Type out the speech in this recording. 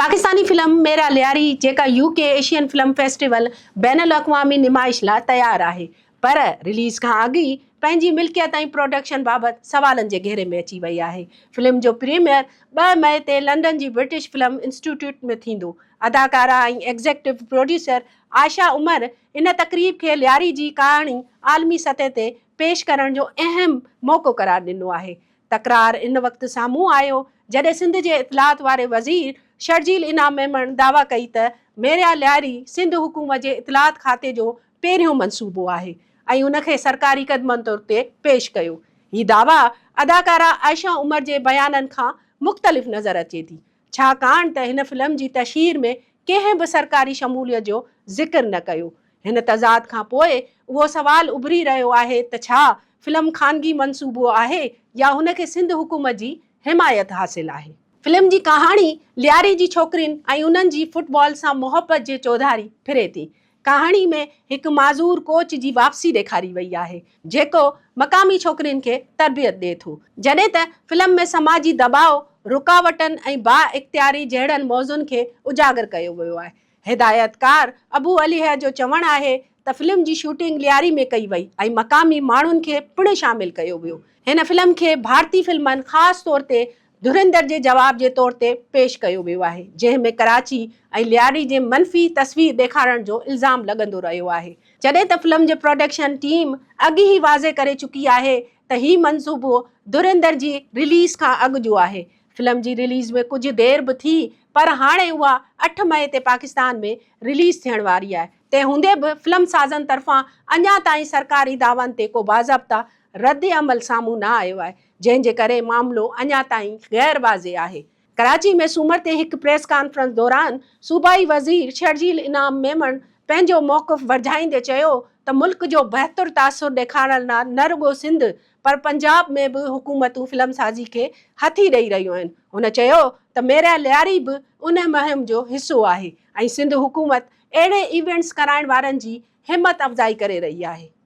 Pakistani film Mera Lyari جيڪا U K Asian film festival بين الاقوامي نمائش لا تيار آهي پر رليز کان اڳ ئي پنهنجي ملڪيت ۽ پروڊڪشن بابت سوالن جي گهيري ۾ اچي وئي آهي فلم جو پريميئر ٻه مئي تي لنڊن جي برٽش فلم انسٽيٽيوٽ ۾ ٿيندو اداڪارا ۽ ايگزيڪٽو پروڊيوسر عائشه عمر ان تقريب کي لياري جي ڪهاڻي عالمي سطح تي پيش ڪرڻ جو اهم موقعو قرار ڏنو آهي تڪرار ان وقت سامهون آيو جڏهن سنڌ جي اطلاعات واري وزير شرجيل انعام ميمڻ دعويٰ ڪئي ته ميريا لياري سنڌ حڪومت جي اطلاعات کاتي جو پهريون منصوبو آهي ۽ ان کي سرڪاري قدمن طور تي پيش ڪيو. هي دعويٰ اداڪارا عائشه عمر جي بيانن کان مختلف نظر اچي ٿي. ڇاڪاڻ ته هن فلم جي تشهير ۾ ڪنهن به سرڪاري شموليت جو ذڪر نه ڪيو. هن تضاد کان پوء اهو سوال اڀري رهيو آهي ته ڇا فلم خانگي منصوبو آهي يا هن کي سنڌ حڪومت جي حمايت حاصل آهي. فلم جي ڪهاڻي لياري جي ڇوڪرين ۽ انهن جي فٽبال سان محبت جي چوڌاري ڦري ٿي. ڪهاڻي ۾ هڪ معذور ڪوچ جي واپسي ڏيکاري وئي آهي، جيڪو مقامي ڇوڪرين کي تربيت ڏئي ٿو، جڏهن ته فلم ۾ سماجي دٻاء، رڪاوٽن ۽ بااختياري جهڙن موضوعن کي اجاگر ڪيو ويو آهي. هدايتڪار ابو عليه جو چوڻ آهي ته فلم جي شوٽنگ لياري ۾ ڪئي وئي ۽ مقامي ماڻهن کي پڻ شامل ڪيو ويو. هن فلم کي ڀارتي فلمن خاص طور تي ڌريندر جي جواب جي طور تي پيش ڪيو ويو آهي، جنهن ۾ ڪراچي ۽ لياري جي منفي تصوير ڏيکارڻ جو الزام لڳندو رهيو آهي، جڏهن ته فلم جي پروڊڪشن ٽيم اڳ ئي واضح ڪري چڪي آهي ته هي منصوبو ڌريندر جي رليز کان اڳ جو آهي. فلم جي رليز ۾ ڪجهه دير به ٿي پر هاڻي اها اٺ مئي تي پاڪستان ۾ رليز ٿيڻ واري آهي، تنهن هوندي به فلم سازن طرفان اڃا تائين سرڪاري دعوائن تي ڪو باضابطه رد عمل سامهون نه آيو آهي، جنهن جي ڪري معاملو اڃا تائين غير واضح آهي. ڪراچي ۾ سومر تي هڪ پريس ڪانفرنس دوران صوبائي وزير شرجيل انعام ميمڻ پنهنجو موقف ورجائيندي چيو ته ملڪ جو بهتر تاثر ڏيکارڻ لا نه رڳو سنڌ پر پنجاب ۾ به حڪومتون فلم سازي کي هٿي ڏئي رهيون آهن هن چيو ته ميريا لياري به ان مهم جو حصو آهي ۽ سنڌ حڪومت اهڙي ايونٽس ڪرائڻ وارن جي همت افزائي ڪري رهي آهي.